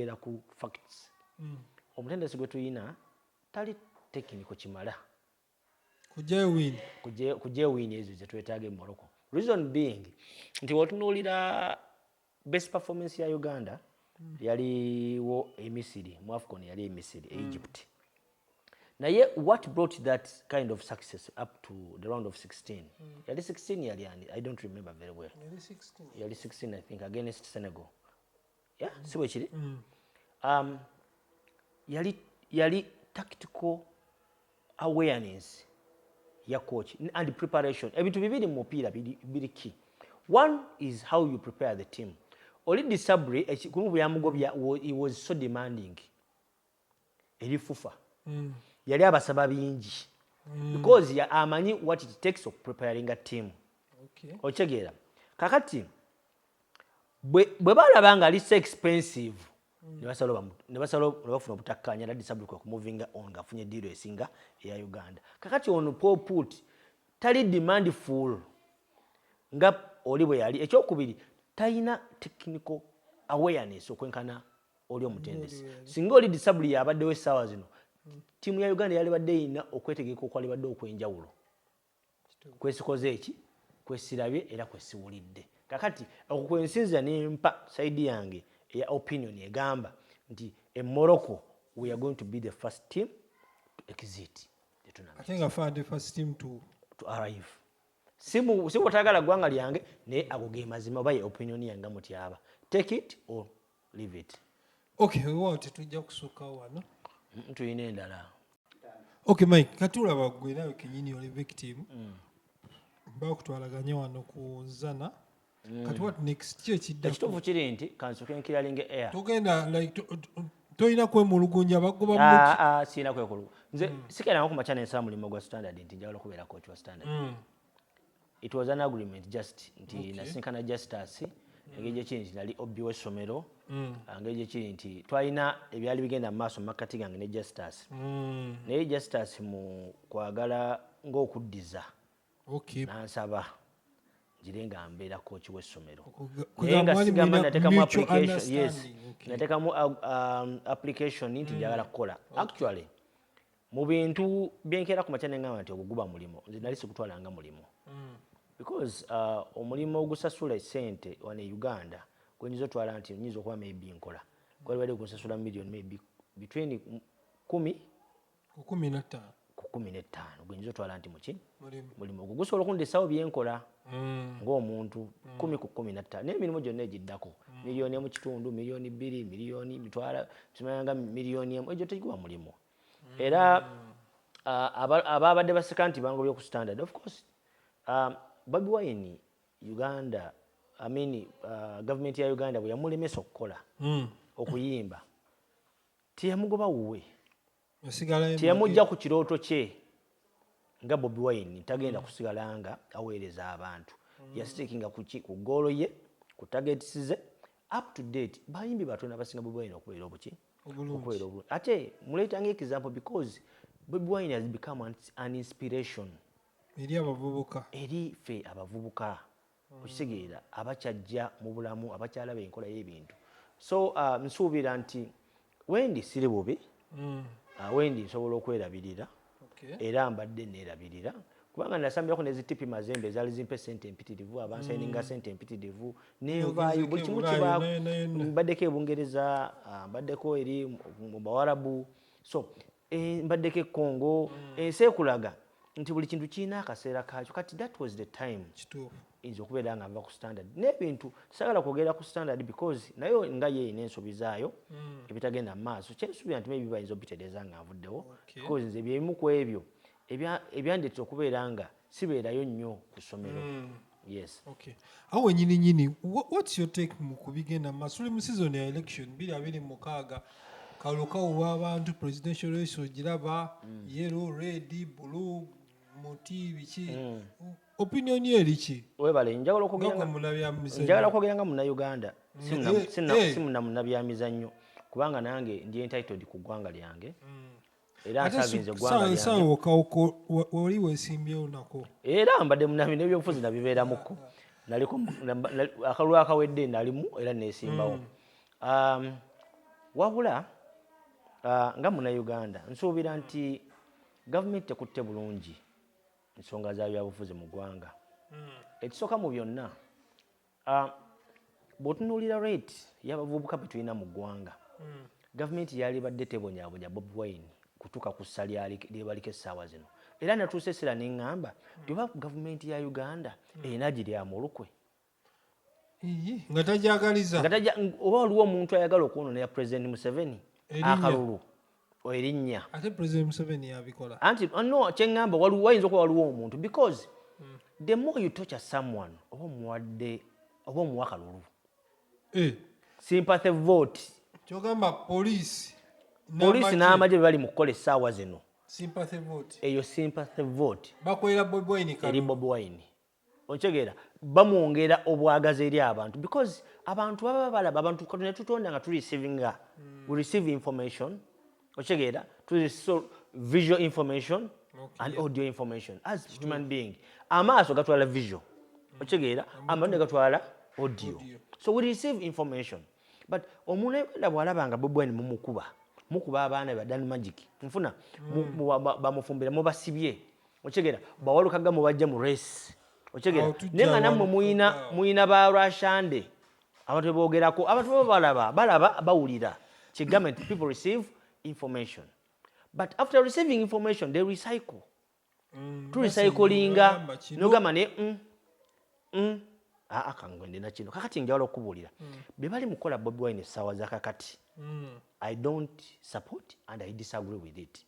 Era ku facts mm. omutendesi gwe tulina tali tekiniko kimala kujewiini ezo zetwetaaga e morocco reason being nti wotunuulira best performance ya uganda mm. yaliwo emisiri mu afcon yali emisiri e mm. egypt mm. naye what brought that kind of success up to the round of 16 mm. yali 16 yali ani i don't remember very well yali 16 i think against senegal ya si bwe kiri mm. um, yali yali tactical awareness ya coach and preparation ebintu bibiri mu mupiira biri ki one is how you prepare the team oli disabri ekikulu bwe yamugobya he was so demanding eri fufa mm. yali abasaba bingi mm. because ya amanyi what it takes of preparing a team okay. okitegeera kakati bwe balaba nga ali so expensive mm. nebafuna obutakkaanya nadisabulika okumuvinga on ngaafunye diiro esinga eya uganda kakati ono poput tali demand full nga oli bwe yali ekyokubiri talina technical awareness okwenkana oli omutendesi singa oli disabuli yabaddewo essaawa zino ttiimu ya uganda yalibadde erina okwetegeka okwalibadde okw'enjawulo kwesikoze eki kwesirabye era kwesiwulidde kakati okwo kwensinzira nempa saidi yange eya opinion egamba nti e morocco we are going to be the first team to exit siwotagala gwanga lyange naye ago ge mazima oba ye opinion yange mutyaba take it or leave it okay wewaawo tetujja kusukkawo wano Mm, tulina endala okay mike kati olaba gwe nawe kenyini oli victim Mm. bakutwalaganye wano ku zana kati what next ki ekiddako ekituufu kiri nti kansoke nkiralinga air togenda like to- to- tolina kwemulugunja bagoba mu Ah, ah, sirina kwekulu nze Mm. sikeranga ku makya nensaba mulimu gwa standard nti njagala okubeera coach wa standard It was an agreement just nti okay. nasinkana Justus engeri gyekiri nti nali obbi w'essomero mm. ah, ngeri gyekiri nti twalina ebyali bigenda mu maaso mu makkati gange ne Justus mm. naye Justus mu kwagala ng'okuddiza okay. nansaba ngire nga mbeera kooki w'essomero naye nga sigamba natekamu application yes natekamu ah, um, application nti mm. njagala kukola actually mu bintu byenkeera ku makya nengamba nti ogwo guba mulimu nze nali sigutwala nga mulimu mm. because uh, omulimu ogusasula esente wano e uganda gwenyinza otwala nti nyinza okuba maybe nkola kwali bali kunsasula million maybe between kumi kukumi nettaano kukumi nettaano gwenyinza otwala nti muki mulimu ogwo gusobola okundesawo byenkola mm. ngaomuntu mm. kumi ku kumi nettaano naye emirimu gyonna egiddako miliyoni emu kitundu miliyoni bbiri miliyoni mitwala kimayanga miliyoni emu egyo tegikuba mulimu era ababadde baseka nti bangobye ku standard of course um, bobi wine uganda I mean, uh, gavumenti ya uganda bwe yamulemesa okukola mm. okuyimba teyamugoba wuwe teyamujja ku kirooto kye nga bobi wine tagenda mm. kusigala nga aweereza abantu mm. yasitekinga ku goolo ye ku tagets ze up to date bayimbi batona basinga bobi wine okubeera obuki okukolera obulungi ate muleeta nga example because bobi wine has become an, an inspiration eri abavubuka eri ffe abavubuka mm. okitegeera abakyajja mu bulamu abakyalaba enkola y'ebintu so uh, nsuubira nti wendi siri bubi mm. uh, wendi nsobola okwerabirira era mbadde neerabirira kubanga nasambirako ne zitipi mazembe ezaali zimpa esente empitirivu abansayininga mm. sente empitirivu nenvaayo buli kimu kiba mbaddeko ebungereza ah, mbaddeko eri mu bawarabu so eh, mbaddeko e congo mm. ensi ekulaga nti buli kintu kirina akaseera kakyo kati that was the time nze okubeera nga nva ku standard n'ebintu sagala kwogera ku standard because nayo nga ye erina ensobi zaayo hmm. ebitagenda mu maaso kyensuubira nti maybe bayinza obitereeza nga nvuddewo because nze byebimu ku ebyo ebyandeetera okubeera nga sibeerayo nnyo ku ssomero hmm. yes okay awo wenyini nyini what's your take mu kubigenda mu maaso tuli mu season ya election biri abiri mu mukaaga kalulu kawulwa abantu presidential race ogiraba hmm. yellow red blue muti biki opinion yo eri ki webale njagala okwogera nga munabyamizanyo njagala okwogera nga munauganda simuna munabyamizanyo kubanga nange ndi entitled ku ggwanga lyange mm. era nsavinze ggwangawoli wesimbyewo nako era mbadde munami nebyobufuzi nabibeeramuko naliko akalulu akawedde nalimu era nesimbawo mm. um, wabula uh, nga munauganda nsuubira nti gavumenti tekutte bulungi nsonga za byabufuzi mu ggwanga hmm. ekisooka mu byonna ah, bwotunuulira rate yabavubuka betulina mu ggwanga hmm. gavumenti yalibadde tebonyabonya bob wine kutuuka ku ssa lyebaliko essaawa zino era natuusa essira neŋŋamba hmm. tioba gavumenti ya uganda erina giri amulukwe nga tajagaliza oba waliwo omuntu ayagala okwonona ya president museveni akalulu erinnya anti oh, no kyeŋŋamba wayinza okuba waliwo omuntu because hmm. the more you tocha someone oba omuwadde oba omuwa kalulu eh. sympathy vote kyogamba poliisi poliisi n'amagye bwe bali mu kukola essaawa zino eyo sympathy vote eri bobi wine Okitegeera bamwongera obwagazi eri abantu because abantu baba balaba abantu katonda yatutonda nga tureceiving we receive information okitegeera visual information okay. and audio information as True. human being amaaso gatwala visual mm. okitegeera mm. amatu ne gatwala audio. audio so we receive information but omuntu ayogenda bwalaba nga bobwine mumukuba mukuba abaana badan magic nfuna mm. bamufumbira mubasibye okigera bawalukaga mubajja mu race okigera naye nga nammwe muyina muyina ba rashande abantu bebogerako abantu baba balaba balaba bawulira kigambe nti people receive information but after receiving information they recycle mm, turecyclinga nogamba ne mm, mm, aa kangwe ndina kino kakati njawala okubuulira mm. be bali mukola bobi wine essaawa zakakati mm. i don't support and i disagree with it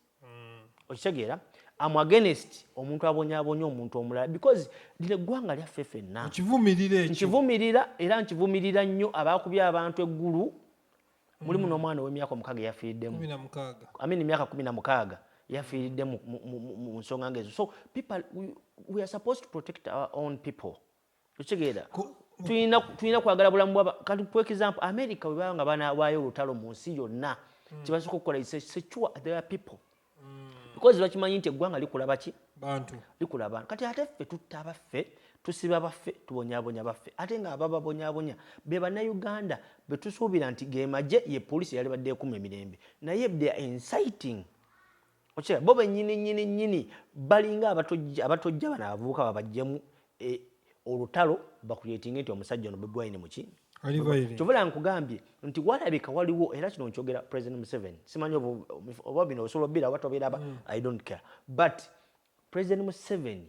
okitegeera am against omuntu abonyabonya omuntu omulala because lino eggwanga lyaffe fenna nkivumirira era nkivumirira nnyo abakubya abantu eggulu mulimu mm. n'omwana ow'emyaka omukaaga eyafiiriddemu amini emyaka kumi na mukaaga yafiiridde mu nsonga ngaezo so people we are supposed to protect our own people okitegeera tulina kwagala bulamu bwaba kanti for example america webaba nga banawaayo olutalo mu nsi yonna hmm. kyebasooka okukola secure their people hmm. because bakimanyi nti eggwanga likula baki likula abantu kati ate ffe tutta abaffe tusiba baffe tubonyabonya baffe ate nga abababonyabonya be bannayuganda betusuubira nti gemaje ye polisi yali badde ekuma emirembe naye they are inciting okira bo benyini nyini nyini balinga abatojja abatojja bana abavubuka babajjemu e, olutalo bakuyetinge nti omusajja ono Bobi Wine muki kyovula nkugambye nti walabika waliwo era kino nkyogera president Museveni simanyi oba bino osobola obira oba tobiraba mm. I don't care but president Museveni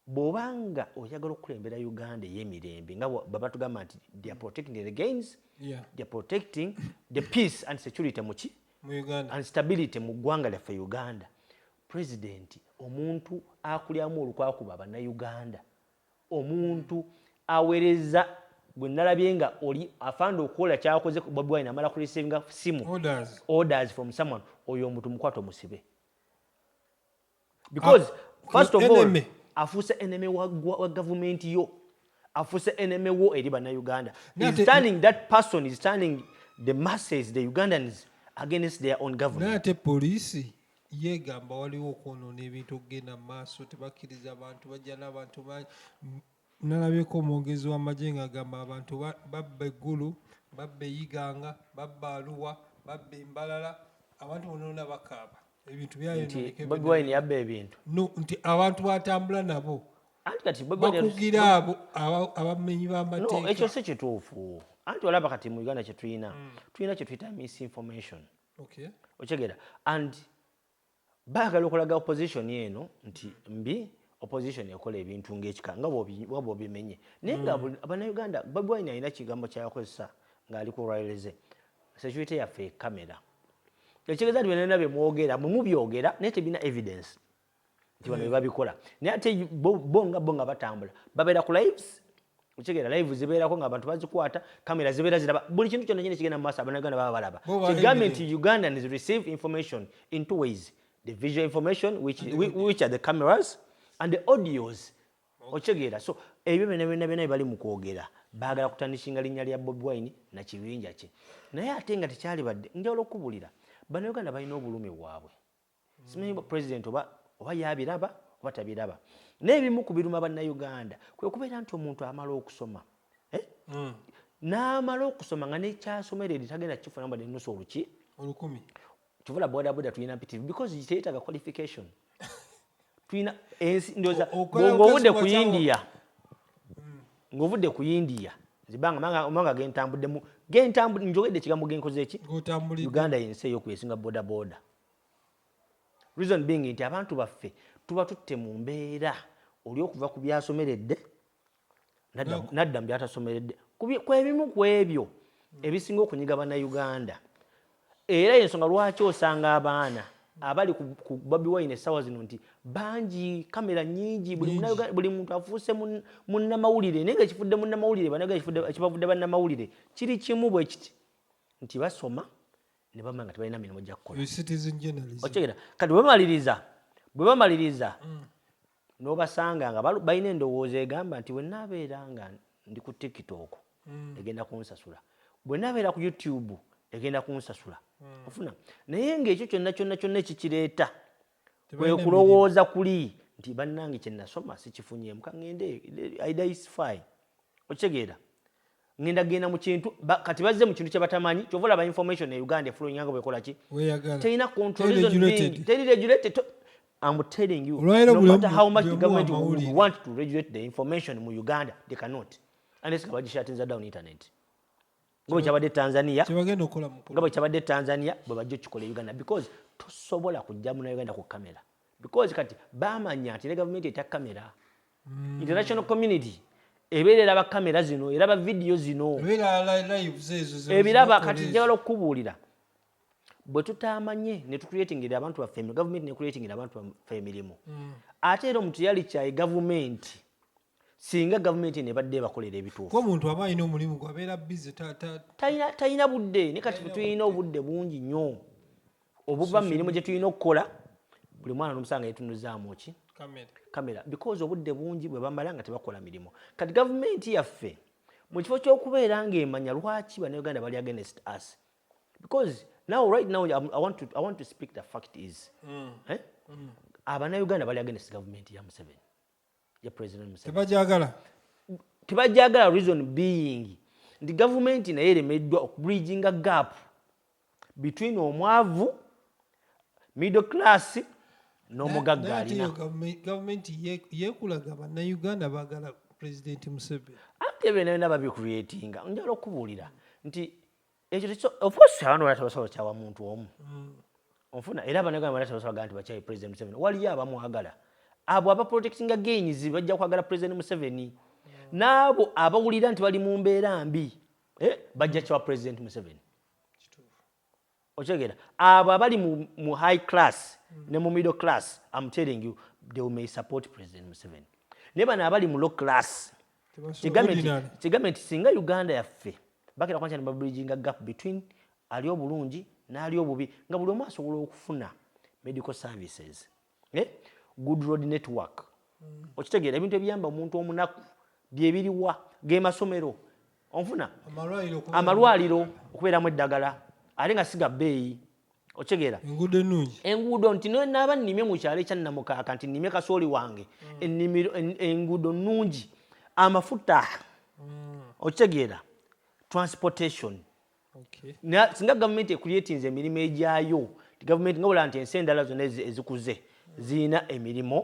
Bwoba nga oyagala okukulembera Uganda eyemirembe nga babatugamba nti they are protecting the gains, yeah. they are protecting the peace and security muki and stability mu ggwanga lyaffe Uganda. President omuntu akulyamu olukwakuba bannayuganda, omuntu awereza gwe nalabye nga oli afanda okukola kyakoze Bobi Wine amala ku receiving simu orders. orders from someone oyo omuntu mukwate omusibe. because ah, first of all afuuse enemy wa, wa, wa government yo afuuse enemy wo eri bannayuganda is turning that person is turning the masses the ugandans against their own government naye ate poliisi yeegamba waliwo okwonoona ebintu okugenda mu maaso tebakkiriza bantu bajja n'abantu bangi Nalabyeko omwogezi w'amagye ng'agamba abantu babba e Gulu, babba e Iganga, babba Arua, babba e Mbarara, abantu bonaona bakaaba ebintu byayononeka. Bobi Wine yabba ebintu? No, nti abantu batambula nabo bakugira abo abamenyi b'amateeka. No, ekyo si kituufu. Anti olaba kati mu Uganda kye tulina, mm. tulina kye tuyita misinformation. Okay. Okyegera and Bagala okulaga opposition eno nti mbi opposition ekola ebintu ngekika nga waba obimenye naye nga mm. banauganda bobi wine alina kigambo kyakozesa ngaali ku ryleze security yaffe ekamera ekitegeeza nti byonna byemwogera mwe mubyogera naye tebina evidence nti bano mm. bebabikola naye ate bo nga bo nga batambula babeera ku lives okitegeera live zibeerako nga abantu bazikwata kamera zibeera ziraba buli kintu kyonna kyina kigenda mu maaso abanaganda baba balaba kigambye nti ugandans receive information in two ways the visual information which, which are the cameras and the audios okitegeera so ebyo byona byona byona bibali mu kwogera baagala kutandikinga linnya lya bobi wine na kibinja kye naye ate nga tekyalibadde njawulo okukubulira banauganda balina obulumi bwabwe Simanyi oba president oba oba yabiraba oba tabiraba naye ebimu ku biruma bannayuganda kwe kubeera nti omuntu amala okusoma eh? mm. n'amala okusoma nga nekyasomera eri tagenda kukifuna mbadde nusu oluki olukumi kivula bodaboda tulina mpitirivu because teyetaaga qualification tulina ensi ndoza ng'ovudde ku india mm. ng'ovudde ku india zibanga omanga gentambuddemu gentambudde njogedde ekigambo genkoze eki uganda yensi eyokwesinga bodaboda Reason being nti abantu baffe tuba tutte mu mbeera oli okuva ku byasomeredde nadda mu byatasomeredde kwebimu ku ebyo ebisinga okunyiga bannayuganda era yensonga lwaki osanga abaana abali ku bobi wine essaawa zino nti bangi kamera nyingi buli muntu afuuse munnamawulire naye nga ekifudde munnamawulire banaga ekibavudde bannamawulire kiri kimu bwekiti nti basoma ne bamala nga tebalina mirimu gya kukola okitegeera kati bwebamaliriza bwe bamaliriza mm. n'obasanga nga balina endowooza egamba nti bwe nabeera nga ndi ku tiktok mm. egenda kunsasula bwe nabeera ku youtube egenda kunsasula mm. ofuna naye ng'ekyo kyonna kyonna kyonna ekikireeta kwe kulowooza kuli nti bannange kye nasoma sikifunyeemu ka ŋŋende idaisify okitegeera ŋŋenda genda mu kintu kati bazze mu kintu kye batamanyi kyova olaba information e uganda efulowinga nga bwekola ki terina controlizonningi teri regulated am telling you no matter how much the government would want to regulate the information mu uganda they cannot unless nga bagishatinza down internet nga bwekyabadde tanzania nga bwekyabadde tanzania bwebajja okikola e uganda because tosobola kujja muna uganda ku kamera because kati bamanya nti ne gavumenti etya kamera mm. international community ebeera eraba kamera zino eraba vidiyo zino ebiraba kati njagala okukubuulira bwe tutamanye ne tucreatingira abantu baffe gavumenti ne creatingira abantu baffe emirimu mm. ate era omuntu yali kyayi gavumenti singa gavumenti eno ebadde ebakolera ebituufu omuntu aba alina omulimu gwe abeera bize talina budde ne kati tulina obudde bungi nnyo obuva mu mirimu gye tulina okukola buli mwana nomusanga yetunuzaamu ki kamera because obudde bungi bwe bamala nga tebakola mirimu kati gavumenti yaffe mu kifo ky'okubeera ng'emanya lwaki banauganda bali against us because now right now I want to, I want to speak the fact is mm. eh? mm. abanauganda bali against gavumenti ya museveni tebagyagala tebagyagala reason being nti gavumenti naye eremeddwa okubridginga gap between omwavu middle class n'omugagga alina gavumenti yekulaga bannayuganda bagala pulezidenti museveni ate bena bena babikreatinga njala okubuulira nti ekyo tekyo of course abantu balata basobola kyawa muntu omu mm. onfuna era abanagamba balata basobola gamba nti bakyayi president museveni waliyo abamwagala abo aba protectinga gains bajja kwagala president museveni mm. n'abo abawulira nti bali mu mbeera mbi eh, bajja kyawa president museveni okyegera abo abali mu high class mm. ne mu middle class am telling you they may support president museveni naye bano abali mu low class kigambe nti singa uganda yaffe Bagenda kuba nti babulijinga gap between ali obulungi n'ali obubi nga buli omu asobola okufuna medical services eh? good road network mm. okitegeera ebintu ebiyamba omuntu omunaku byebiriwa gemasomero onfuna amalwaliro okubeeramu eddagala ate nga siga bbeeyi okitegeera enguudo nti naaba nnimye mu kyalo ekyannamukaaka nti nnimye kasooli wange mm. enguudo nnungi amafuta mm. okitegeera transportation singa gavumenti ekuyetinza emirimu egyayo gavumenti nga bula nti ensi endala zonna ezikuze mm. zirina emirimu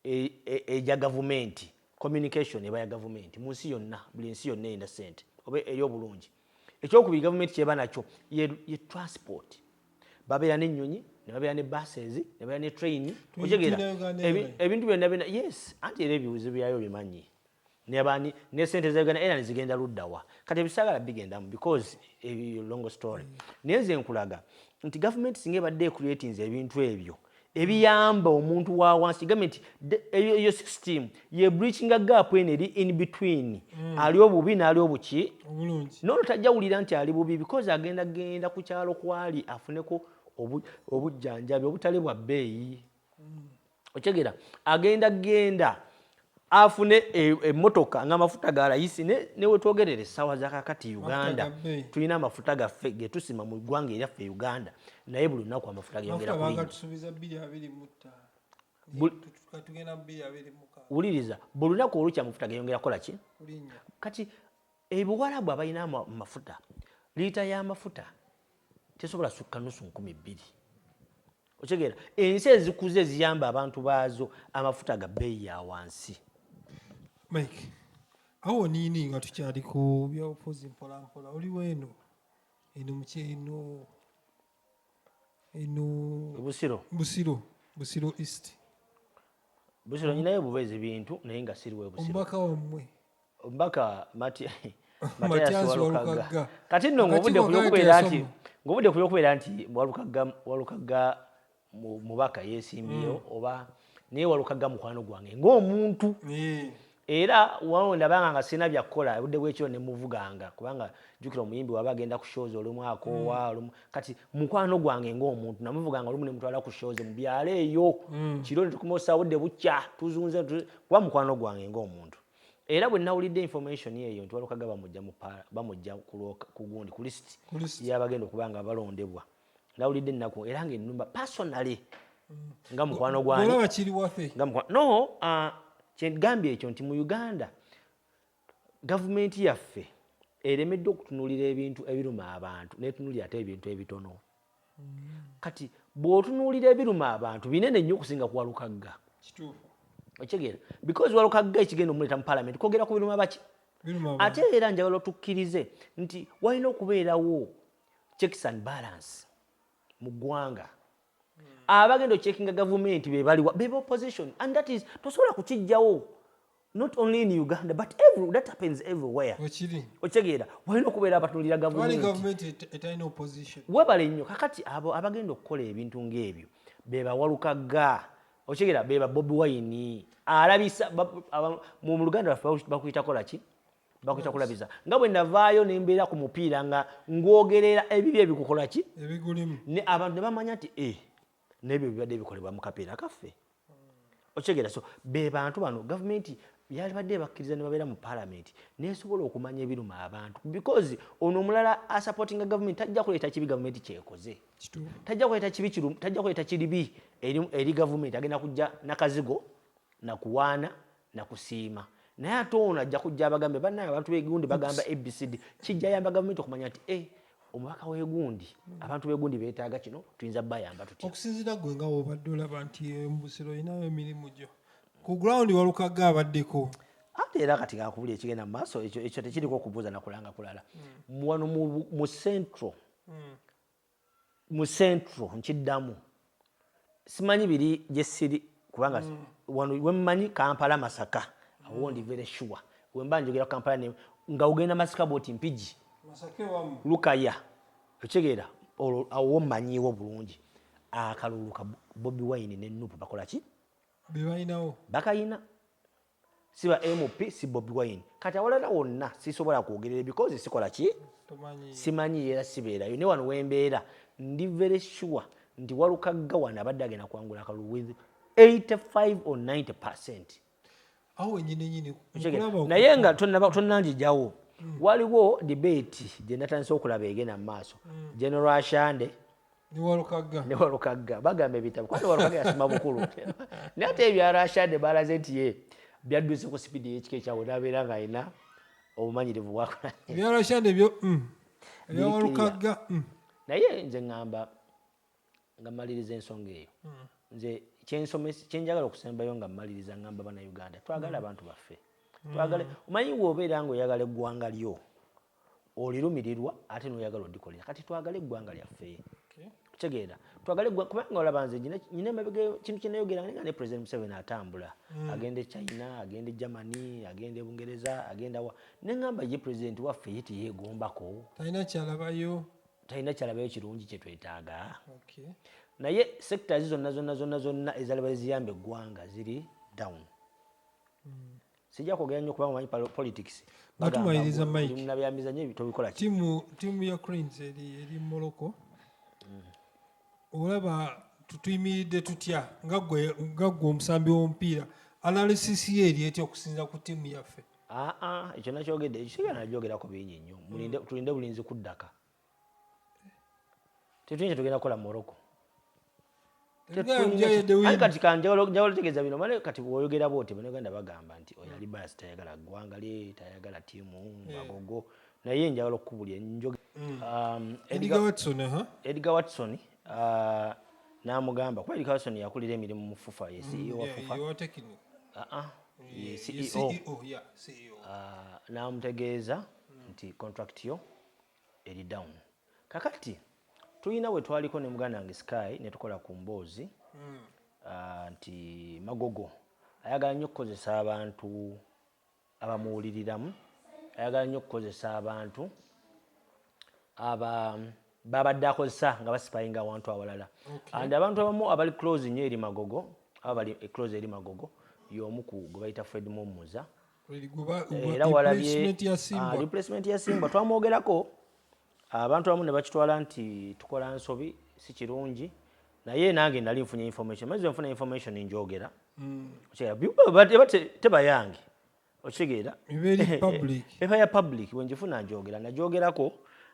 e, e, eja gavumenti communication eba ya gavumenti mu nsi yonna buli nsi yonna erina sente oba eri obulungi ekyokubiri gavumenti kyeba nakyo ye, ye transport babeera nenyonyi nebabeera ne buses nebabeera ne train otegera ebintu byonna byona yes anti era ebiwuzo byayo bimanyi nebani ne sente za Uganda Airlines zigenda ludda wa kati ebisagala bigendamu because ebyo eh, long story mm. naye nze nkulaga nti government singa ebadde ecreatinze ebintu ebyo ebiyamba omuntu wa wansi government eyo system ye breaching a gap eno eri in between mm. ali obubi n'ali obuki nono tajja wulira nti ali bubi because agenda genda ku kyalo kwali afuneko obujjanjabi obutale bwa bbeeyi okyegera agenda genda afune emotoka e, nga amafuta galayisi newetwogerera ne esawa zakakati uganda tulina amafuta gaffe getusima mu ggwanga eryaffe uganda naye buli lunaku amafuta geyongera wuliriza buli lunaku olukya amafuta geyongera kola ki kati ebiwalabu abalina amafuta liita y'amafuta tesobola sukka nusu nkumi bbiri okitegeera ensi ezikuze eziyamba abantu baazo amafuta ga bbeeyi ya wansi mike awo niini nga tukyali ku byobufuzi mpolampola oli weeno eno mukyeno eno busiro busiro busiro east busiro nyinayo buba ezibintu naye nga siriwe busiro omubaka wammwe Omubaka Mathias Walukagga kati nno ng'obudde ku by'okubeera nti ng'obudde ku by'okubeera nti Walukagga Walukagga mubaka yeesimbyewo hmm. oba naye Walukagga mukwano gwange ng'omuntu era wano ndabanga nga sirina byakukola obudde bw'ekiro ne muvuganga kubanga jjukira omuyimbi waba agenda ku shows olumu akoowa hmm. olumu kati mukwano gwange ng'omuntu namuvuganga olumu ne mutwala ku shows mu byalo eyo hmm. kiro ne tukumaosa budde bukya tuzunze kuba mukwano gwange ng'omuntu Era bwe nawulidde information eyo nti Walukaga bamujja mu paala bamujja ku gundi ku list y'abagenda okuba nga balondebwa nawulidde ennaku era nga ennumba personally nga mukwano gwange no uh, kyegambye ekyo nti mu Uganda gavumenti yaffe eremeddwa okutunulira ebintu ebiruma abantu netunulira ate ebintu ebitono kati bwotunuulira ebiruma abantu binene nnyo okusinga ku walukagga okitegeera because walukagga ekigenda omuleeta mu palamenti kwogera ku biruma baki ate era njagala otukkirize nti walina okubeerawo checks and balance mu ggwanga hmm. abagenda okyekinga gavumenti bebaliwa beba opposition and that is tosobola kukijjawo not only in uganda but every, that happens everywhere okitegeera walina okubeera abatunulira gavumenwebale nnyo kakati abo abagenda okukola ebintu ngaebyo bebawalukaga okitegeera beba bobi wayini alabisa mu luganda lwaffe bakuyitakolaki bakuyita kulabiza nga bwe navaayo nembeera ku mupiira nga ngwogerera ebibi ebikukolaki abantu nebamanya nti eh, nebyo bibadde bikolebwa mu kapiira kaffe okitegeera so be bantu bano gavumenti yalibadde ebakkiriza ne babeera mu palamenti nesobola okumanya ebiruma abantu because ono omulala asupportinga gavumenti tajja kuleeta kibi gavumenti kyekoze tajja kuleeta kibi tajja kuleeta kiribi eri gavumenti agenda kujja nakazigo nakuwaana nakusiima naye ate ono ajja kujja abagambe banaye abantu begundi bagamba abcd kijja yamba gavumenti okumanya nti eh, omubaka wegundi abantu begundi betaaga kino tuyinza bayamba tutya okusinzira gwe nga wobadde olaba nti embusiro olinayo emirimu gyo ku ground walukagga abaddeko ate era kati kakubuli ekigenda mu maaso ekyo tekiriko okubuuza nakulanga kulala mm. wano mu central mm. mu central nkiddamu simanyi biri gyesiri kubanga mm. wano wemmanyi kampala masaka awo ndi very sure wemba njogera kampala ne nga ogenda masaka bwoti mpigi lukaya okitegeera olwo awo mmanyiiwo bulungi akalulu ka bobi wine ne nupu bakola ki bebalinawo bakayina si ba MP si Bobi Wine kati awalala wonna sisobola kwogerera because sikola ki simanyi era sibeerayo ne wano wembeera ndi very sure nti walukagga wano abadde agenda kwangula akalulu with 85 or 90 percent naye nga tonanjijawo hmm. waliwo debate gye natandise okulaba egenda mu maaso hmm. general ashande ne walukagga bagamba ebitabo kuba ne walukagga yasoma bukulu naye ate ebya rashade balaze nti ye byadduse ku sipidi eyekika ekyawe nabeera nga alina obumanyirivu bwakola ebyo mm. ebyawalukagga mm. naye nze ŋŋamba nga mmaliriza ensonga eyo mm. nze kyenjagala okusembayo nga mmaliriza ŋŋamba banauganda twagala abantu baffe twagale omanyi wobeera nga oyagala eggwanga lyo olirumirirwa ate noyagala odikolera kati twagale eggwanga lyaffe kitegeera twagale kubanga olaba nze nyina emabega kintu kyenayogera nga ne president museveni atambula mm. agenda e china agenda e germany agenda e bungereza agenda wa neŋamba ye president waffe ye teyegombako talina kyalabayo talina kyalabayo kirungi kyetwetaaga naye sectors zonna zonna zonna zonna ezalaba eziyamba eggwanga ziri down mm. sijja kwogera nnyo kubanga omanyi politics batumaliriza mikenabyamiza nyo tobikola tiimu ya cranes eri morocco mm. olaba tutuyimiridde tutya nga ggwe omusambi w'omupiira analysis ye eri etya okusinza ku tiimu yaffe aa ekyo nakyogedde ekisiga najogerako bingi nnyo mm. tulinde bulinzi kuddaka tetulina kyetugenda kukola morocco kati kanjawulo tegeza bino mane kati woyogera bwoti banaganda bagamba nti oyo ali basi tayagala ggwanga lye tayagala tiimu magogo eh. naye njagala okukubulira njoge mm. um, edgar watson uh-huh. uh, namugamba kuba edgar watson yakulira emirimu mu fufa ye ceo wa mm, fufa uh-uh. ye ceo e e uh, namutegeeza mm. nti contract yo eri down kakati tulina wetwaliko ne muganda wange sky netukola ku mboozi mm. uh, nti magogo ayagala nnyo okukozesa abantu abamuwuliriramu ayagala nnyo okukozesa abantu aba babadde akozesa nga basipayinga awantu awalala okay. and abantu abamu abali close nnyo eri magogo aba bali eh, close eri magogo y'omu ku gwe bayita fred mumuza era walabye ah, replacement ya simba twamwogerako abantu abamu ne bakitwala nti tukola nsobi si kirungi naye nange nali nfunye information maze nfuna information njogera mm. tebayange okitegeera eba ya public wenjifuna njogera najogerako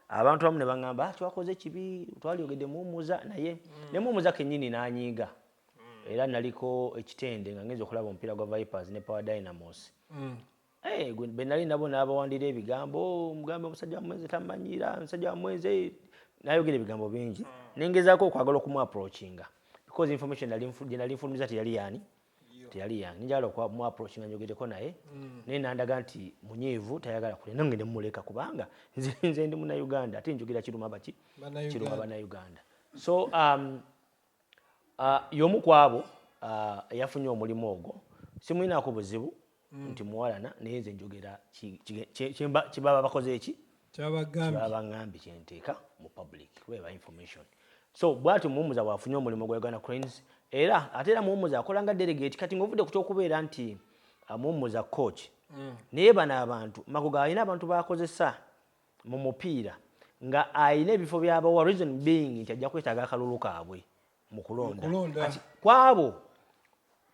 abantu abamu ne baŋamba ah, twakoze kibi twalyogedde muwumuza naye mm. ne muwumuza kenyini nanyiiga era naliko ekitende nga ngenza okulaba omupiira gwa vipers ne power dynamos mm. hey, eh, benali nabo nabawandira ebigambo oh, mugambe omusajja wamwenze tamanyira omusajja wamwenze eh, nayogera ebigambo bingi mm. nengezako okwagala okumuaprochinga because information gyenali nfulumiza teyali yani teyali yange njagala okumuaproach nga njogereko naye mm. naye nandaga nti munyiivu tayagala kule nange ne mumuleka kubanga nze ndi munauganda ate njogera kiruma baki kiruma banauganda so um, Y'omu ku abo eyafunye omulimu ogwo. Simulinaako buzibu nti muwalana naye nze njogera kye baba bakoze ki, kye baba bangambye kye nteeka mu public kuba eba information. So bwatyo Muwummuza bw'afunye omulimu gwa Uganda Cranes era ate era Muwummuza akola nga delegate. Kati ng'ovudde ku ky'okubeera nti Muwummuza coach naye bano abantu Magogo alina abantu b'akozesa. mu mupiira nga alina ebifo byabawa reason being nti ajja kwetaaga akalulu kaabwe mu kulonda kwabo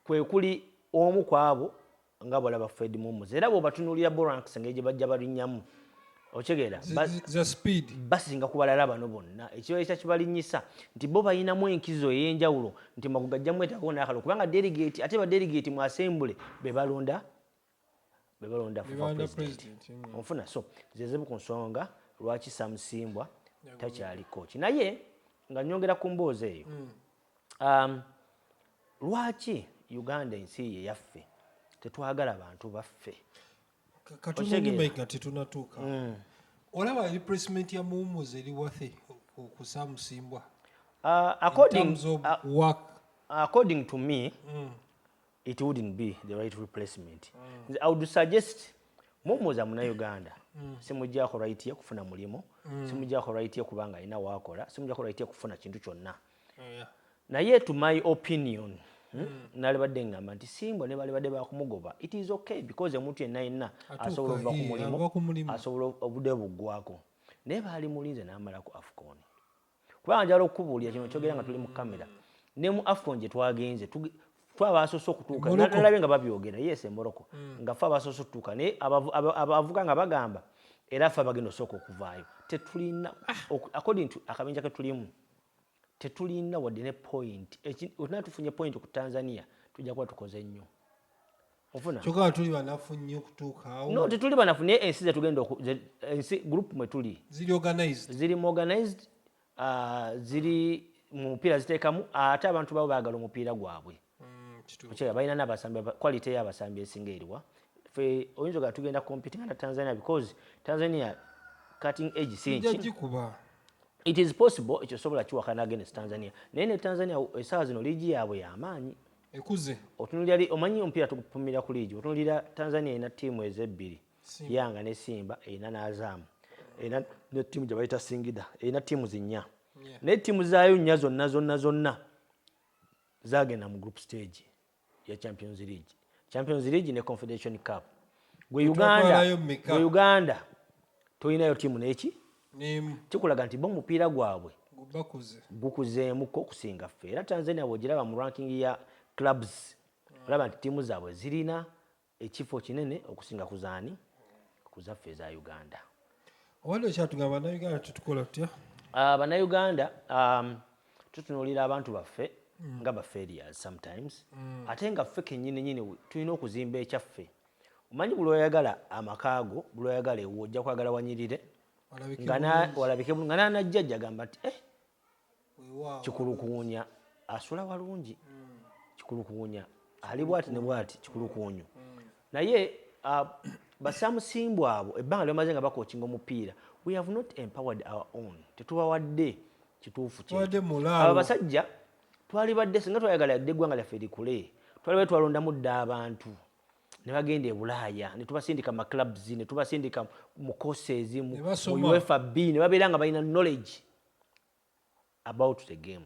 kwekuli omu kwabo nga bwolaba fred mumuz era bwobatunulira boranks engeri gyebajja balinyamu okitegeera basinga ku balala bano bonna ekibaekya kibalinyisa nti bo balinamu enkizo ey'enjawulo nti magu gajja mwetagawo n'akalo kubanga delegate ate badelegate mu asembule be balonda bebalonda for president mm. onfuna so zezibu ku nsonga lwaki samusimbwa takyali koki naye nga nyongera ku mboozi eyo mm. um, lwaki uganda ensi ye yaffe tetwagala bantu baffe katunaigatetunatuuka mm. olaba eri president ya muwumuzi eri wathe okusamusimbwa uh, according, uh, according to me mm. it wouldn't be the right replacement mm. i would suggest mumuza muna uganda mm. simujako right ye kufuna mulimu mm. simujako right ye kubanga ina wakola simujako right ye kufuna kintu kyonna oh, yeah. naye to my opinion hmm, mm. nali badde ngamba nti simbo ne bali badde bakumugoba it is okay because omuntu yenna yenna asobola okuva ku mulimu asobola obude buggwako naye baali mulinze n'amalako afukoni kubanga njala okukubuulira kino kyogera nga tuli mu kamera ne mu afcon gye twagenze fe abasoose okutuuka nalabe nga babyogera yes emoroko mm. nga fe abasoose okutuuka naye abavuga nga bagamba era fe abagenda osooka okuvaayo tetulina according to akabinja ketulimu tetulina wadde ne point otina tufunye point ku tanzania tujja kuba tukoze nnyo ofuna kyoka nga tuli banafu nnyo okutuuka awo no tetuli banafu naye ensi zetugenda ensi group mwe tuli ziri organized ziri mu organized uh, ziri mu mupiira ziteekamu ate abantu babo baagala omupiira gwabwe mm, okyera balina nabasambi quality y'abasambi esinga eriwa fe oyinza ogaa tugenda competinga na tanzania because tanzania cutting edge sinki it is possible ekyo sobola kiwakana against tanzania naye ne tanzania esawa zino liigi yaabwe yamaanyi ekuze otunulira li omanyi omupiira tugupumira ku liigi otunulira tanzania erina ttiimu ezo ebbiri yanga ne simba erina n'azaamu erina ne ttiimu gye bayita singida erina ttiimu zinnya naye ttiimu zaayo nnya zonna zonna zonna zagenda mu group stage ya champions league champions league ne confederation cup gwe uganda gwe uganda Tolinayo ttiimu n'eki? N'emu. Kikulaga nti bo omupiira gwabwe bakuze gukuzeemu ko okusinga ffe era Tanzania bw'ogiraba mu ranking ya clubs hmm. olaba nti ttiimu zaabwe zirina ekifo kinene okusinga ku zaani ku zaffe eza Uganda. Owali okyatugamba Bannayuganda tetukola tutya? Ah, Bannayuganda um, tutunuulira abantu baffe nga ba failures sometimes mm. ate nga ffe kenyini nyini tulina okuzimba ekyaffe Omanyi buli oyagala amaka go buli oyagala ewo ojja kwagala wanyirire walabike nga nanajjajja gamba nti eh, kikulukuunya asula walungi mm. kikulukuunya ali bwati ne bwati kikulukuunyu mm. naye uh, basamusimbwa abo ebbanga lyamaze nga bakokinga omupiira we have not empowered our own tetubawadde kituufu abo basajja twalibadde singa twayagala yadde eggwanga lyaffe likule twalibadde twalondamu dda abantu ne bagenda e bulaaya ne tubasindika mu maclubs ne tubasindika mu courses mu Ne basoma. mu uefa b ne babeera nga balina knowledge about the game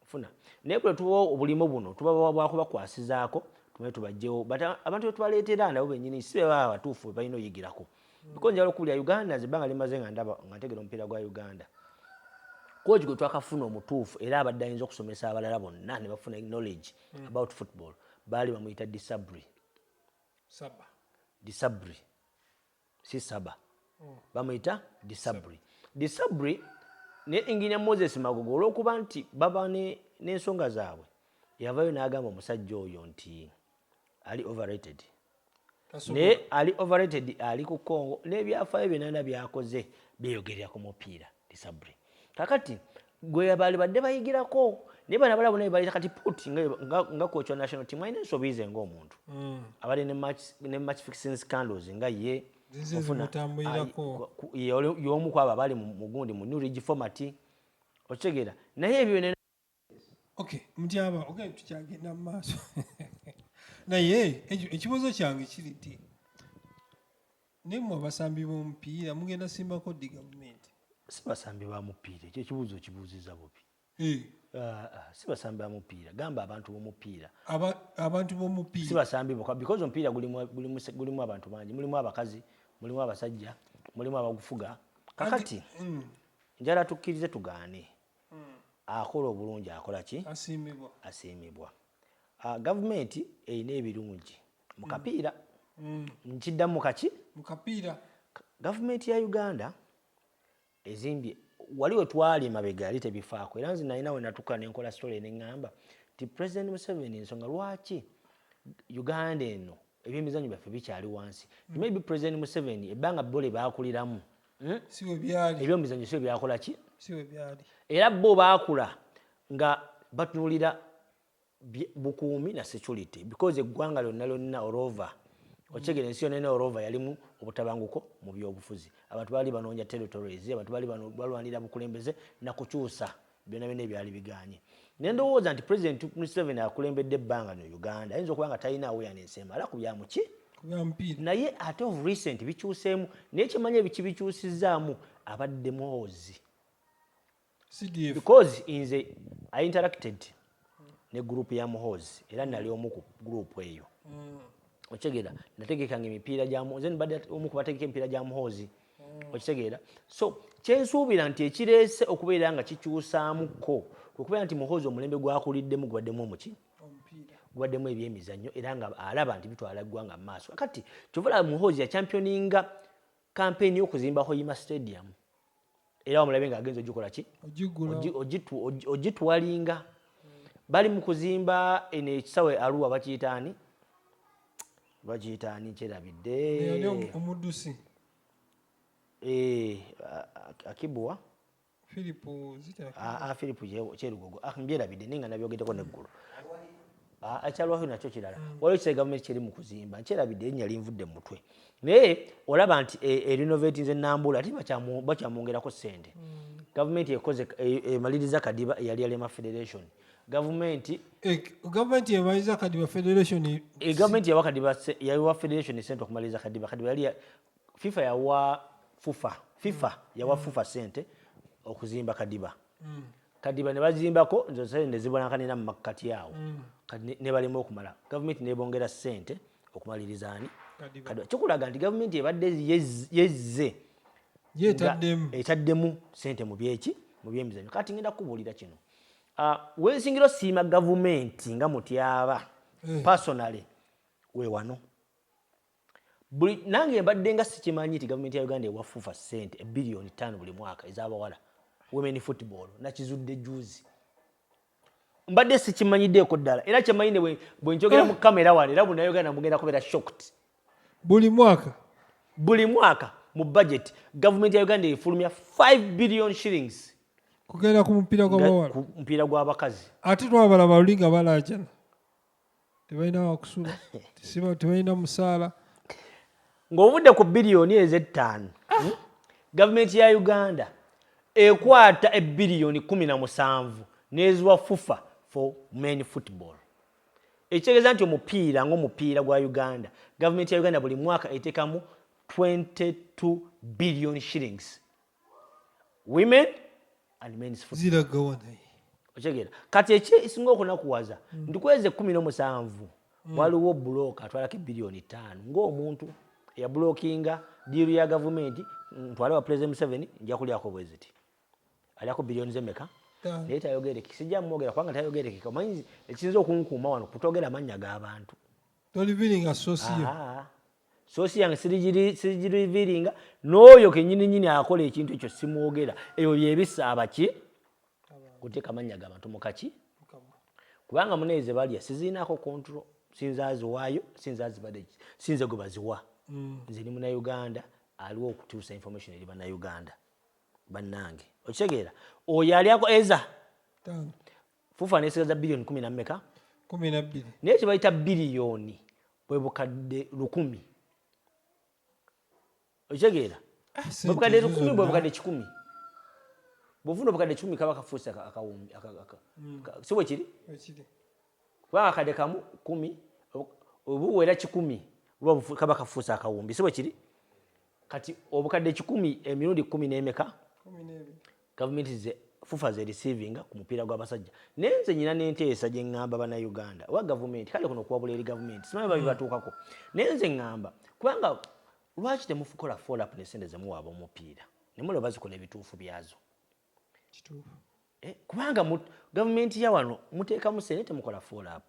funa naye kule tubawa obulimu buno tubabawa bwakubakwasizaako tumanye tubajjewo but a- abantu betubaleetera nabo benyini si bebaba abatuufu bebalina oyigirako because njagala okubulira uganda nze ebbanga limaze nga ndaba nga ntegera omupiira gwa uganda koji gwe twakafuna omutuufu era abadde ayinza okusomesa abalala bonna ne bafuna knowledge mm. about football baali bamuyita disabri saba disabri si saba mm. bamuyita disabri disabri ne enginia moses magogo olwokuba nti baba n'ensonga ne zaabwe yavayo n'agamba omusajja oyo nti ali overrated naye ali overrated ali ku congo nebyafayo byenana byakoze byeyogerera ku mupiira disabre kakati gweyabali badde bayigirako naye bana balabu naye baleta kati put nga kocha national team alina ensobi ze ngaomuntu mm. abadde ne match fixing scandals nga ye yomu kwabo abali mugundi mu new regi format okitegeera naye ebyo Okay, mutyaba okay, tukyagenda mu maaso naye ekibuuzo kyange kiri nti naye mwe abasambi b'omupiira mugenda simbako ddi gavumenti si basambi ba mupiira ekyo ekibuuzo okibuuziza bubi eh. ah, ah, si basambi ba mupiira gamba abantu b'omupiira abantu b'omupiira si basambi boka because omupiira gulimu abantu bangi mulimu abakazi mulimu abasajja mulimu abagufuga kakati mm. njala tukkirize tugaane akola obulungi akola ki asiimibwa ah, gavumenti erina ebirungi mu mm. kapiira mm. nkiddamu kaki mu kapiira gavumenti ya uganda ezimbye wali we twali mabega yali tebifaako era nze nalina we natuka ne nkola sitole ne ŋŋamba nti pulezidenti museveni ensonga lwaki uganda eno Ebyemizanyo byaffe bikyali wansi. Mm. Maybe President Museveni ebbanga bo lye baakuliramu hmm? ebyomizanyo si byakola ki era bo baakula nga batunulira bukuumi na security because eggwanga lyonna lyonna orova okitegera ensi yonna orova yalimu obutabanguko mu byobufuzi abantu baali banoonya territories abantu baali balwanira bukulembeze nakukyusa byona byona ebyali biganye nendowooza nti president museven akulembedde ebbanga no uganda ayinza okuba nga talina awareness emala ku byamuki naye ate of recent bikyuseemu naye kyemanyi ebiki bikyusizaamu abadde muhoozi because nze i interacted ne group ya muhozi era nali omu ku group eyo mm. okitegeera nategekanga emipiira gya nze nibadde omu ku bategeka emipiira gya muhoozi mm. okitegeera so kyensuubira nti ekireese okubeera nga kikyusaamuko kwekubeera nti muhoozi omulembe gwakuliddemu gubaddemu omuki gubaddemu ebyemizannyo era nga alaba nti bitwala eggwanga mu maaso kati kyovala muhoozi yachampioninga kampeyini y'okuzimba hoima stadium era wamulabe nga agenza ogikola ki ogitwalinga bali mu kuzimba eno ekisawe aluwa bakiyitaani bakiyitaani kyerabidde omuddusi eh, akibuwa Philip zita. Ah, ah Philip kyerugogo. Ah, mbyerabidde ninga nabyogeddeko neggulu. Ah, ekyalwayo nakyo kirala mm. waliwo ekitali gavumenti kyeri mu kuzimba nkyerabidde erinya linvudde mu mutwe naye olaba nti e, erinovati nze nambula ate bakyamwongerako ssente mm. gavumenti ekoze e, emaliriza kadiba eyali yalema federation gavumenti eh, gavumenti yabaliza kadiba federation eh, gavumenti yawa kadiba yawa federation sente okumaliriza kadiba kadiba yali fifa yawa fufa fifa mm. yawa mm. fufa sente okuzimba kadiba mm. kadiba ne bazimbako nze sente ne zibonakanira mu makkati awo mm. kati ne balema okumala gavumenti nebongera sente okumaliriza ani kadiba kikulaga nti gavumenti ebadde yezze etaddemu sente mu byeki mu byemizanyo kati ngenda kukubuulira kino uh, wensingira osiima gavumenti nga mutyaba mm. personally wewano buli nange mbadde nga sikimanyi nti gavumenti ya uganda ewa fufa sente ebiliyoni ttaano buli mwaka ez'abawala women football nakizudde juzi mbadde sikimanyiddeeko ddala era kyemanyi ne bwe njogera mu kamera ah. wano era bunayoganda mugenda kubeera shocked buli mwaka buli mwaka mu budget gavumenti ya uganda efulumya 5 billion shillings kugenda ku mupiira gw'abawala mupiira gw'abakazi ate twabala balulinga balajana tebalina wakusula tisiba tebalina musaala ng'ovudde ku biliyoni ez'ettaano hmm? gavumenti ya uganda ekwata ebiliyoni kumi na musanvu n'eziwa fufa for men football ekitegeeza nti omupiira ng'omupiira gwa uganda gavumenti ya uganda buli mwaka etekamu 22 billion shillings women and men's football ziragawa naye okitegera kati ekisinga okunakuwaza mm. nti kwezi ekumi nomusanvu mm. waliwo bulooka atwalako ebiliyoni ttaano ngaomuntu eyabulokinga diiru ya gavumenti ntwale wa president museveni nja kulyako bweziti alyako biliyoni zemeka naye tayogerekeka sijja mwogera kubanga tayogerekeka omanyi ekisinza okunkuuma wano kutogera amannya g'abantu sosi yange sirigiriviiringa n'oyo kenyini nyini akola ekintu ekyo simwogera ebyo byebisa abaki kuteeka amannya ga bantu mukaki kubanga munaye ze balya siziinaako kontrol sinza aziwaayo sinza azibade sinze gwe baziwa mm. nze ni munauganda aliwo okutuusa information eri banauganda bannange okitegeera oyo alyako eza fufa nesigaza biliyoni kumi nammeka naye kyebayita biliyoni bwe bukadde lukumi okitegeera ah, bwebukadde lukumi bwebukadde kikumi bwofuna obukadde kikumi kaba kafuusi akawumbi hmm. si bwe kiri kubanga akadde kamu kumi obuwera kikumi kaba kafuusi akawumbi si bwe kiri kati obukadde kikumi emirundi kumi n'emeka Gavumenti nze fufa ze receivinga ku mupiira gwa basajja naye nze nyina n'enteesa gye ngamba bana Uganda oba gavumenti kale kuno kuwabula eri gavumenti simanyi oba bibatuukako naye nze ngamba kubanga lwaki temufukola follow up ne sente ze muwa ab'omupiira ne mulaba bazikola ebituufu byazo kituufu eh, kubanga gavumenti ya wano muteekamu sente temukola follow up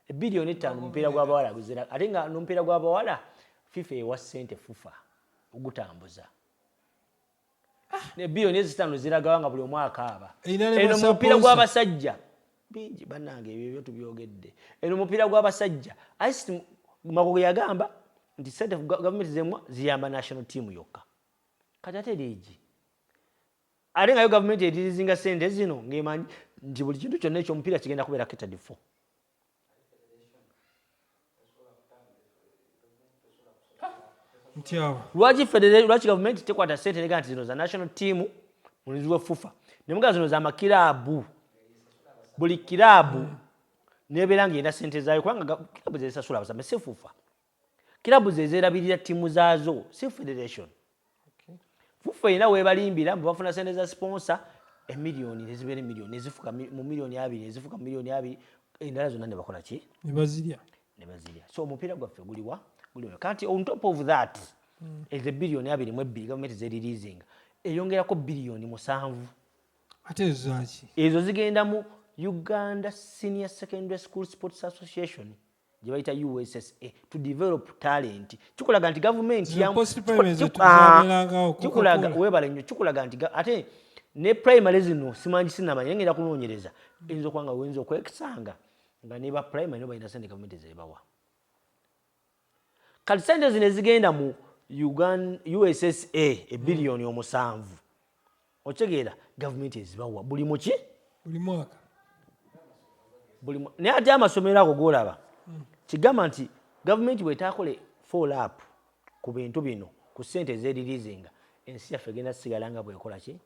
ebiliyoni ettaano omupiira gw'abawala guzira ate nga n'omupiira gw'abawala fifa ewa sente fufa ogutambuza ebiliyoni ah, ezitaano ziragawa nga buli omu akaaba eno mupiira gw'abasajja bingi banange ebyo byo tubyogedde eno mupiira gw'abasajja ice magogo yagamba nti sente gavumenti zemwa ziyamba national team yokka kati ate liigi ate ngayo gavumenti eririzinga sente zino ngaemanyi nti buli kintu kyonna ekyomupiira kigenda kubeera ketadifo lwaki federation lwaki gavumenti tekwata sente nega nti zino za national team mulinzi wa fufa nemuga zino za makiraabu buli kiraabu nebeera nga erina sente zaayo kubanga kiraabu zezisasula abasame si fufa Club zezelabirira ttimu zaazo si federation. Fuffu erina webalimbira mbu bafuna sente za sponsor emiliyoni nezibeera emiliyoni nezifuka mu miliyoni abiri nezifuka mu miliyoni abiri endala zonna ne bakola ki ne bazirya ne bazirya so omupiira gwaffe guliwa guliwa kati on top of that mm. ezo ebiriyoni abiri mu ebbiri gavumenti zeriliizinga eyongerako biriyoni musanvu ate ezo zaki ezo zigenda mu uganda senior secondary school sports association gyebayita ussa to develop talent kikulaga nti gavumenti kikulaga webale nyo kikulaga nti ate ne primary zino simanyi sinamanya naye ngenda kunoonyereza eyinza okuba nga weyinza okwekisanga nga ne ba primary no balina sente gavumenti zebawa kati sente zino ezigenda mu ussa ebiliyoni omusanvu okitegeera gavumenti ezibawa buli muki buli mwaka naye ate amasomero ago golaba hmm. kigamba nti gavumenti bwetaakole fall up ku bintu bino ku sente ezerilizinga ensi yaffe egenda sigala nga bwekola ki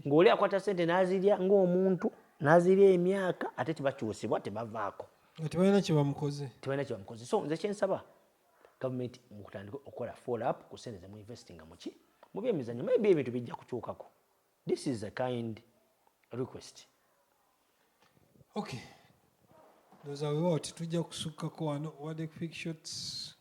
ngaoli akwata sente nazirya ngaomuntu nazirya emyaka ate tebakyusibwa tebavaako tebalina kyebamukoze so nze kyensaba Government mukutandike okola fall up ku sente zemu investinga muki mubyemizanyo maybe ebintu bijja kukyukako this is a kind request. Okay. Those are what tujja kusukkako wano wadde quick shots.